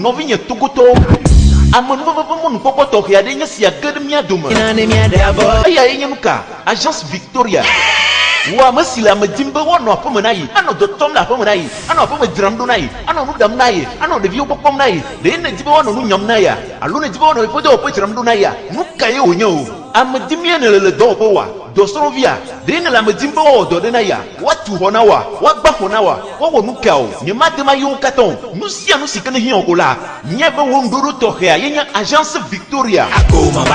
Nɔvinye Togotɔwo, amenuveve ƒe mɔnukpɔkpɔ tɔxɛ aɖee nye esia ge ɖe mía dome. Eyae nye nuka? Agence Victoria wɔa ame si le ame dim be woanɔ aƒeme na ye, anɔ dɔ tsɔm le aƒeme na ye, anɔ aƒeme dzram ɖo na ye, anɔ nu ɖam na ye, anɔ ɖeviwo gbɔ kpɔm na ye. Ɖe nèdi be woanɔ nu nyam na yea? Alo nèdi be woanɔ yeƒe dɔwɔƒe dzram ɖo na yea? Nukae wònye o? Ame dim ye nèle le dɔwɔƒe oa? Dɔ srɔ̃via? Ɖe nèle ame dim be woawɔ dɔ aɖe na yea? Woatu xɔ na woa? Woagbã xɔ na woa? Woawɔ nu kae o? Nyemade maye wo katã o. Nu sia nu si ke nèhiã wò ko la, nyae be wò ŋuɖoɖo tɔxɛa ye nye Agence Victoria.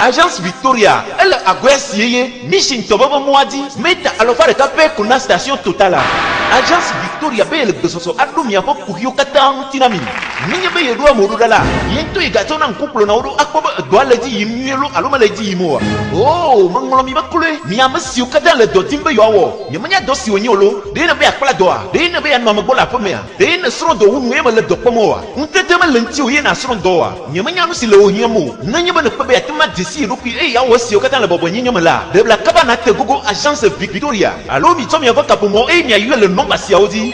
Agence Victoria, Ele agɔe esi eye Mission tɔ veve mɔa dzi. Mita alafa ɖeka pɛ ko na Station Total-a. Agence Victoria be yele gbesɔsɔ aɖo miaƒe kuxiwo katã ŋu. ŋuti na mi. Nenye be yeɖoa mo ɖo ɖa la, ye ŋutɔe gatsɔna ŋku kplɔna wo ɖo akpɔ be edɔa le edzi yim nyuie loo alo mele edzi yim oa? Oo, meŋlɔ mi be kloe, mi ame siwo katã le dɔ dim be yewoawɔ. Nyemenya dɔ si wònye o loo, ɖe nèbe yeakpla dɔa? Ɖe nèbe yeanɔ ame gbɔ le aƒe mea? Ɖe nèsrɔ̃ dɔ wu nu eye mèle dɔ kpɔm oa? Ŋutete mele ŋutiwò eye nàsrɔ̃ dɔ oa? Nyemenya nu si le wò hiãm o. Nenye be nèkpɔe be yeate ŋu adze si ye ɖokui eye yeawɔ esiawo katã le bɔbɔenyenye me la, ɖe bla kaba nàte gogo Agence Victoria alo mitsɔ miaƒe kaƒomɔ eye miayɔe le nɔmba siawo dzi.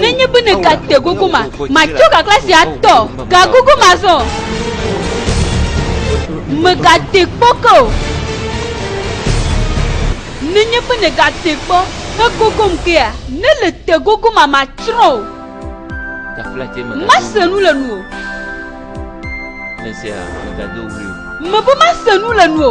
nenye be nègate gogo ma matsɔ kakla sia tɔ gagogo mazɔ mègate kpɔke o Nenye be nègatee kpɔ hegogom kea, ne le te gogom a matsrɔ̃ o. Mase nu le nuwò. Mebe mase nu le nuwò.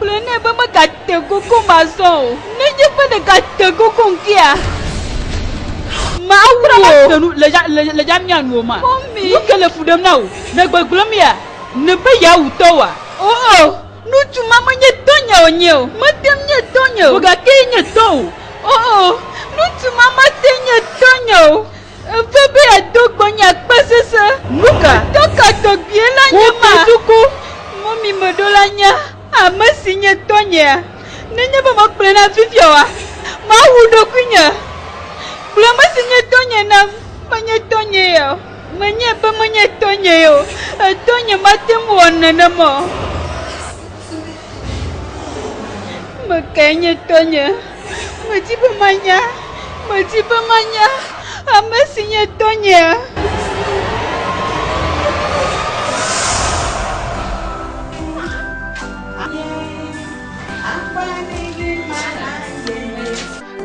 Gblɔ nɛ be megate gogom azɔ o. Nenye be nègate gogom kea, mawu wò. Te nu le ya le le ya mia nu o ma. Mɔmi. Nu ke le fu ɖem na wò. Nègbegblɔm ya ne be yeawu tɔwòa? Oo, ŋutsu ma menye tɔnye wònye o. Mate ŋu nye tɔnye o. Wògate ŋu nye tɔwò. Oo, ŋutsu ma mate ŋu nye tɔnye o. Ève be yeado gbɔnye akpe sese. Nuka dɔka tɔgbie la nye ma! Ŋutsuku mɔmi meɖo la nye ame si nye tɔnyea? Nenye be mekplɔe na fifia oa, mawu ɖokuinye. Gblɔ ame si nye tɔnye nam. Menye tɔnyee o. Menyae be menye tɔnyee o. Etɔnye mate ŋu wɔ nenem o. Mekae nye tɔnye? Medi be manya, medi be manya ame si nye tɔnyea.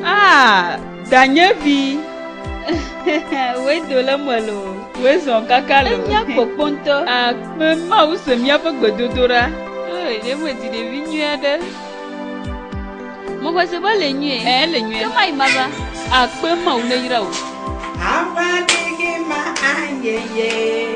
Ah! Danyevi, wòe do le me loo. Wòe zɔ kaka loo. Enya kpɔkpɔ ŋutɔ. Ame Mawu se míaƒe gbedodoɖa. Ee, ɖe medi ɖevi nyui aɖe. Mexɔse be ele nyuie. Ee, ele nyuie. Ke mayi mava. Akpe Mawu neyra wò. Ava ɖege ma ayeye.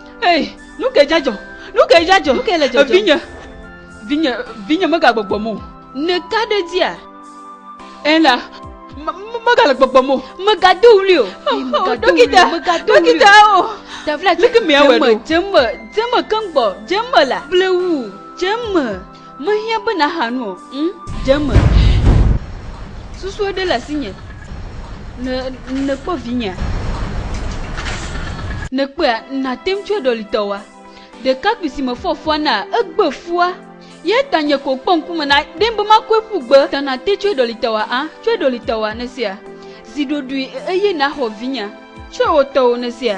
Ee, nu ke dzadzɔ, nu ke dzadzɔ, nu ke le dzadzɔ. Vinye, vinye, vinye megagbɔgbɔ mo. Nèka ɖe dzia? Ela, megale gbɔgbɔ mo. Megado wuli o. Dɔkita, dɔkita o. Tafla dzem me, dzem me, dzem me keŋgbɔ, dzem me la. Blewu, dzem me. Mehiã be nàha nu o. Ŋ, dze eme. Susu aɖe le asinye. Ne, nèkpɔ vinyea? Nèkpɔea? Nàte ŋu tsɔe ɖɔlitɔwoa? Ɖekakpui si mefɔ fua naa, egbe fua. Ye ta nye ko wòkpɔ ŋkume na ɖem be makɔe ƒu gbe. Ta nàte tsɔe ɖɔlitɔwoa? Ã, tsɔe ɖɔlitɔwoa, nèsea? Zi ɖoɖoe eye nàxɔ vinyea? Tsɔe wò tɔwò, nèsea?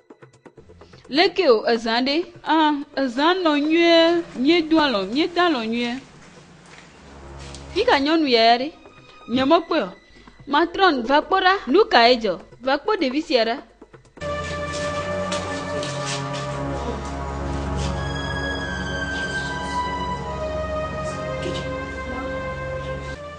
Leke o ezã ɖe? Ah ezã nɔ nyuie míedo alɔ míete alɔ nyuie. Fika nyɔnu ya ya ɖe? Nyemekpɔe o. Matron va kpɔ ɖa nu ka edzɔ. Va kpɔ ɖevi sia ɖa.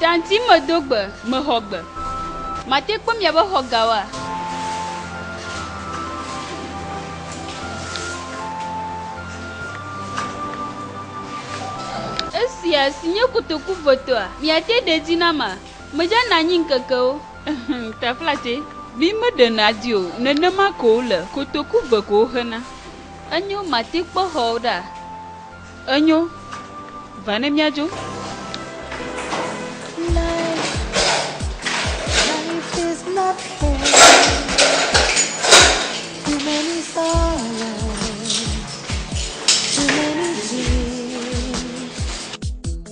Tanti medo gbe, mexɔ gbe. Mate kpɔ miabe xɔgawoa? Esia si nye kotoku vetɔa? Miate ɖe edzi nama? Medzana anyi ŋkekewo. Taflatse, mi meɖena di o, nenema ko wole, kotoku ve ko woxena. Enyo, mate kpɔ xɔ wo ɖa? Enyo, va ne míadzo.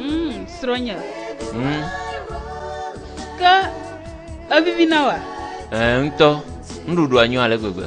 Mm, srɔ̃nye. Mm. Ke evivi na wa? Ee, eh, ŋutɔ. Nuɖuɖua nyo ale gbegbe.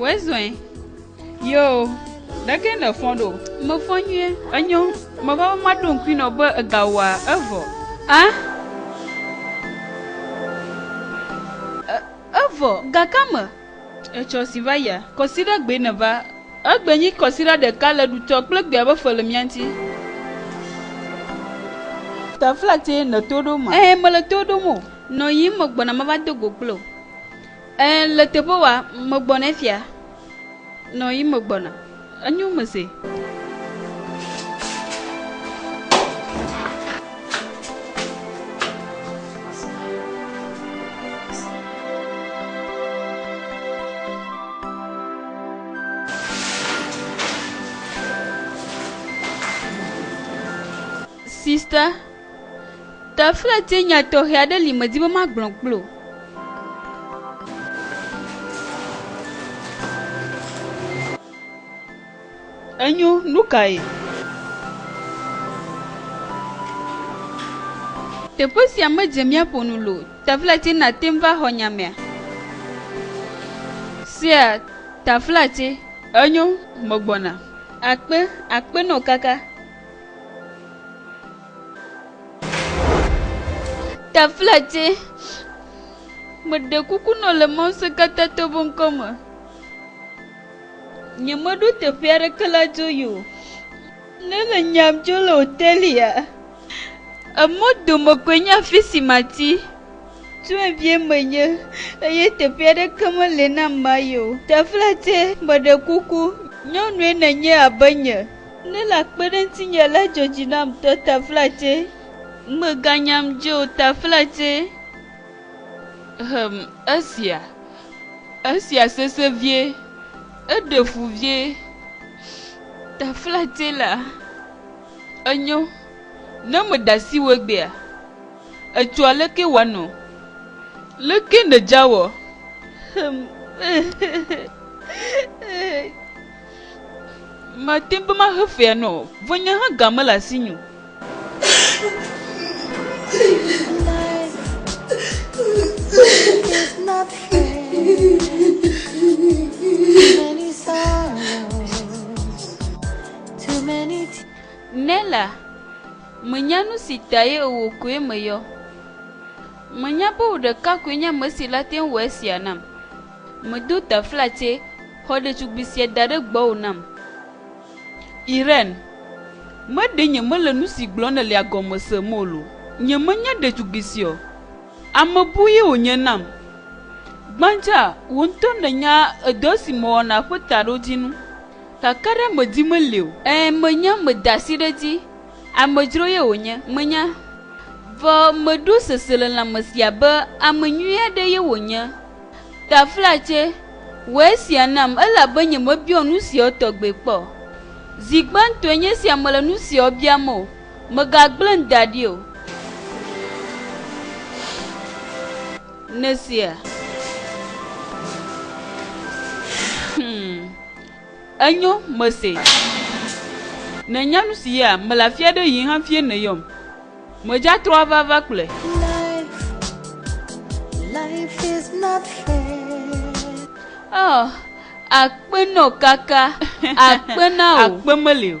Wòe zɔe. Yoo, ɖeke ne fɔn ɖo. Me fɔn nyuie. Enyo, me va be ma ɖo ŋkui nɔ be ega wòa, evɔ. A? E, evɔ, gaka me. Etsɔ si va yia. Kɔsiɖa gbe ne va. Egbe nyi kɔsiɖa ɖeka le ɖutɔ kple gbea be fe le mía ŋuti. Taflatee ne to ɖom a? Ɛɛ, me le to ɖom o. Nɔ yim megbɔna mava do go kple wò. Ẽ, le teƒe wa, megbɔna efia. Nɔ yim megbɔna. Enyo mese. Sister. Tefleti nya tɔxɛ aɖe li medi be magblɔ kpli o. Enyo, nu kae? Teƒe sia medze mía ƒo nu loo. Tefleti na te ŋu va xɔ nya mea? Sea, tafleti. Enyo, megbɔna. Akpe, akpe nɔ kaka. Tefleti, meɖe kuku nɔ le mɔsekatɛto be ŋkɔ me. Nyemeɖo teƒe aɖeke la dzo yi o. Ne le nyam dzo le hotelia, emɔ dome koe nye afi si mati. Tsuevie menye eye teƒe aɖeke mele nam ma yi o. Tefleti, meɖe kuku, nyɔnue nènye abe nye. Ne la kpe ɖe ŋtinye la dzo dzi nam to taflatse. Meganyam dzi o taflatse. Hem esia. Esia sese vie. Eɖe fu vie. Taflatse la enyo. Ne meɖe asi wɔ egbea etso aleke wòanɔ? Leke nèdze awɔ? Xem. Mate ŋu be maxe fea nɛ o, vɔ nye hã ga mele asinye o. Nella, Mènya nu si tae o, wò koe meyɔ. Menya be wò ɖeka koe nye ame si ate ŋu wɔ esia nam. Medo taflatse. Xɔ ɖetugbui sia da ɖe gbɔwò nam. Irène, Me ɖee nyemele nu si gblɔm nèlea gɔme sem o lo. Nyemenya ɖetugbui sia o. Ame bue wònye nam. Gbãdza, wò ŋutɔ nènya edɔ si mewɔna ƒe taɖodzinu. Kakaɖe medi meli o. Ẽ, menya, meda asi ɖe edzi. Amedzro ye wònye, menya. Vɔ meɖo seselelãme sia be ame nyui aɖe ye wònye. Taflatse, wɔ esia nam, elabe nyemebiɔ nu siawo tɔgbe kpɔ o. Zi gbãtɔe nye esia mele nu siawo biam o. Mègagblẽm da ɖi o. Nèsea? Hum. Enyo, mese. Nènya nu si yea, mele afi aɖe yim hafie nèyɔm. Medza trɔ va va kplɔe. Oh, akpe nɔ kaka, akpe na o. Akpe meli o.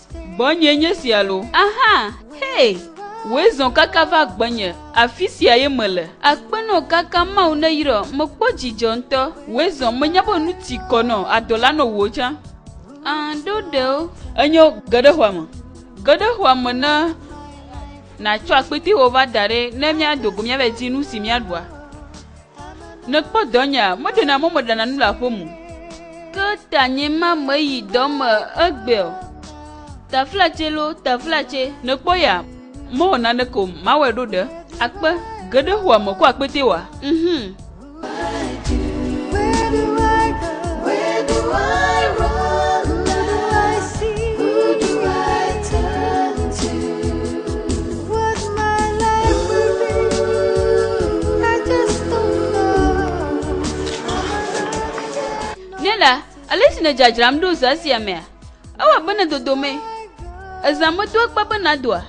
Gbɔnyee nye sia lo. Aha! Hey! Wòe zɔ kaka va gbɔnye, afi sia ye mele. Akpe nɔ kaka Mawu neyrɔ, mekpɔ dzidzɔ ŋutɔ. Wòe zɔ menya be nu ti kɔ nɔ adɔla nɔ wò tsã. Ãa, ɖo ɖewo. Enyo, ge ɖe xɔa me. Ge ɖe xɔa me ne nàtsɔ akpetɛwo va da ɖɛ ne míado go míava di nu si míaɖua. Nèkpɔ dɔnyea? Meɖenea mɔ meɖana nu le aƒe mu. Ke tanye ma meyi dɔ me egbɛ o. Taflatse lo taflatse, nèkpɔ ya? Mewɔ naneke o, mawɔe ɖo ɖe. Akpe geɖe xɔa me kɔ akpete wa. Mhm. Nɛ la, ale si nèdzadzram ɖo zã sia mea, ewɔ be nèdodomee. Ezã medo ekpe be nàdoa?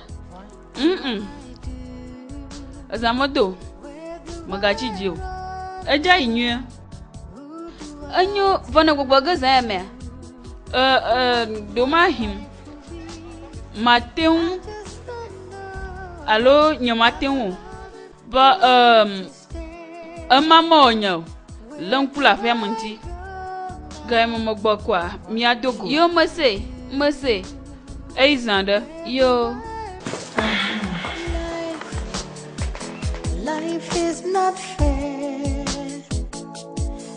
Mm-mm. Ezã medo o. Mègatsi dzi o. Edza yi nyuie. Enyo vɔ nègbɔgbɔ ge zã ya mea? Ee, ee, ɖomahim. mate ŋu alo nyemate ŋu o be em, ema mewɔ nye o le ŋku le aƒea me ŋuti ke eme megbɔ kɔa míado go yo mese mese eyi zã ɖe yo Life is not fair.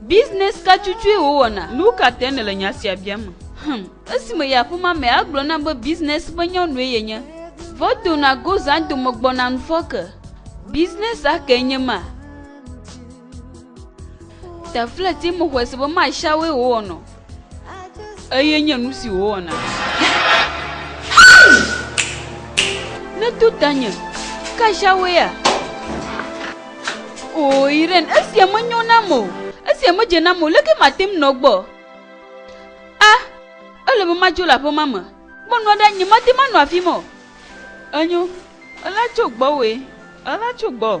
Business ka tutuie wowɔna? Nu ka te nèle nya sia biam me? Hum, esi meyi aƒe ma me, agblɔ nam be business ƒe nyɔnue yenye. Vɔ dona go zã dome gbɔna nufɔ ke. Business a kee nye ma? Tafleti mexɔe se be Marshall woe wowɔnɔ. Eye nye nu si wòwɔna. Neto tanye, Kashawea. O Irene, esia menyo nam o. Esia medze nam o. Leke mate ŋu nɔ gbɔ? A, ele be madzo le aƒe ma me. Kpɔ nua ɖa, nyemate manɔ afi ma o. Enyo, ela tso gbɔwòe. Ela tso gbɔwò.